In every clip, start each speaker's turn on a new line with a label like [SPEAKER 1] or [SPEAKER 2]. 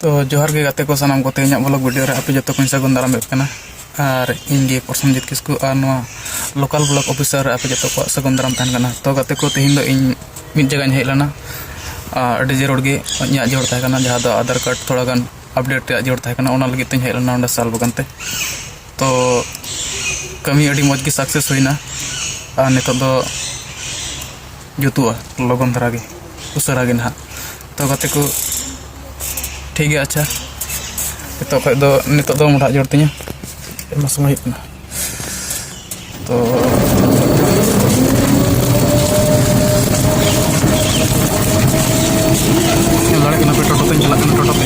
[SPEAKER 1] ᱛᱚ ᱡᱚᱦᱟᱨ ᱜᱮ ᱜᱟᱛᱮ ᱠᱚ ᱥᱟᱱᱟᱢ ᱠᱚᱛᱮ ᱤᱧᱟᱹᱜ ᱵᱞᱚᱜ ᱵᱷᱤᱰᱤᱭᱳ ᱨᱮ ᱟᱯᱮ ᱡᱚᱛᱚ ᱠᱚᱧ ᱥᱟᱹᱜᱩᱱ ᱫᱟᱨᱟᱢᱮᱫ ᱠᱟᱱᱟ ᱟᱨ ᱤᱧ ᱜᱮ ᱯᱨᱚᱥᱚᱱᱡᱤᱛ ᱠᱤᱥᱠᱩ ᱟᱨ ᱱᱚᱣᱟ ᱞᱳᱠᱟᱞ ᱵᱞᱚᱠ ᱚᱯᱷᱤᱥᱟᱨ ᱨᱮ ᱟᱯᱮ ᱡᱚᱛᱚ ᱠᱚᱣᱟᱜ ᱥᱟᱹᱜᱩᱱ ᱫᱟᱨᱟᱢ ᱛᱟᱦᱮᱱ ᱠᱟᱱᱟ ᱛᱚ ᱜᱟᱛᱮ ᱠᱚ ᱛᱮᱦᱮᱧ ᱫᱚ ᱤᱧ ᱢᱤᱫ ᱡᱟᱭᱜᱟᱧ ᱦᱮᱡ ᱞᱮᱱᱟ ᱟᱹᱰᱤ ᱡᱟᱹᱨᱩᱲ ᱜᱮ ᱤᱧᱟᱹᱜ ᱡᱟᱹᱨᱩᱲ ᱛᱟᱦᱮᱸ ᱠᱟᱱᱟ ᱡᱟᱦᱟᱸ ᱫᱚ ᱟᱫᱷᱟᱨ ᱠᱟᱨᱰ ᱛᱷᱚᱲᱟ ᱜᱟᱱ ᱟᱯᱰᱮᱴ ᱨᱮᱭᱟᱜ ᱡᱟᱹᱨᱩᱲ ᱛᱟᱦᱮᱸ ᱠᱟᱱᱟ ᱚᱱᱟ ᱞᱟᱹᱜᱤᱫ ᱛᱮᱧ ᱦᱮᱡ ᱞᱮᱱᱟ ᱚᱸᱰᱮ ᱥᱟᱞ ᱵᱟᱜᱟᱱ ᱛᱮ ᱛᱚ ᱠᱟᱹᱢᱤ ᱟᱹᱰᱤ ᱢᱚᱡᱽ ᱜᱮ ᱥᱟᱠᱥᱮᱥ ᱦᱩᱭᱱᱟ ᱟᱨ ᱱᱤᱛᱚᱜ ᱫᱚ ᱡᱩᱛᱩᱜᱼᱟ ᱞᱚᱜᱚᱱ ᱫᱷᱟᱨᱟ ᱜᱮ ᱩᱥᱟᱹᱨᱟ ᱜᱮ ᱱᱟᱦᱟᱜ ᱛᱚ ᱜᱟᱛᱮ ᱠᱚ ᱴᱷᱤᱠ ᱜᱮᱭᱟ ᱟᱪᱪᱷᱟ ᱱᱤᱛᱚᱜ ᱠᱷᱚᱡ ᱫᱚ ᱱᱤᱛᱚᱜ ᱫᱚ ᱢᱚᱰᱷᱟᱜ ᱡᱳᱨ ᱛᱤᱧᱟ ᱟᱭᱢᱟ ᱥᱚᱢᱚᱭ ᱦᱩᱭᱩᱜ ᱠᱟᱱᱟ ᱛᱚ ᱧᱮᱞ ᱫᱟᱲᱮᱭᱟᱜ ᱠᱟᱱᱟ ᱯᱮ ᱴᱳᱴᱳ ᱛᱮᱧ ᱪᱟᱞᱟᱜ ᱠᱟᱱᱟ ᱴᱳᱴᱳ ᱛᱮ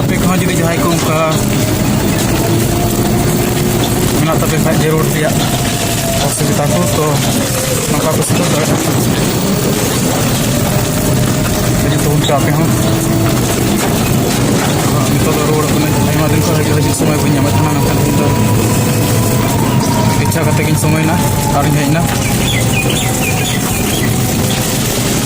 [SPEAKER 1] ᱟᱯᱮ ᱠᱚᱦᱚᱸ ᱡᱩᱫᱤ ᱡᱟᱦᱟᱸᱭ ᱠᱚ ᱚᱱᱠᱟ ᱢᱮᱱᱟᱜ ᱛᱟᱯᱮ ᱠᱷᱟᱡ ᱡᱟᱹᱨᱩᱲ ᱨᱮᱭᱟᱜ ᱚᱥᱩᱵᱤᱫᱟ ᱠᱚ ᱛᱚ ᱱᱚᱝᱠᱟ ᱯᱮ ᱥᱮᱴᱮᱨ ᱫᱟᱲᱮᱭᱟᱜᱼᱟ ᱡᱚᱛᱚ ᱦᱚᱲ ᱟᱯᱮ ᱦᱚᱸ ᱱᱤᱛᱚᱜ ᱫᱚ ᱨᱩᱣᱟᱹᱲ ᱠᱟᱹᱱᱟᱹᱧ ᱟᱭᱢᱟ ᱫᱤᱱ ᱠᱷᱚᱱ ᱦᱤᱡᱩᱜ ᱥᱚᱢᱚᱭ ᱵᱟᱹᱧ ᱧᱟᱢᱮᱫ ᱛᱟᱦᱮᱱᱟ ᱢᱮᱱᱠᱷᱟᱱ ᱤᱧ ᱫᱚ ᱤᱪᱪᱷᱟ ᱠᱟᱛᱮ ᱜᱤᱧ ᱥᱚᱢᱚᱭᱮᱱᱟ ᱟᱨᱤᱧ ᱦᱮᱡ ᱮᱱᱟ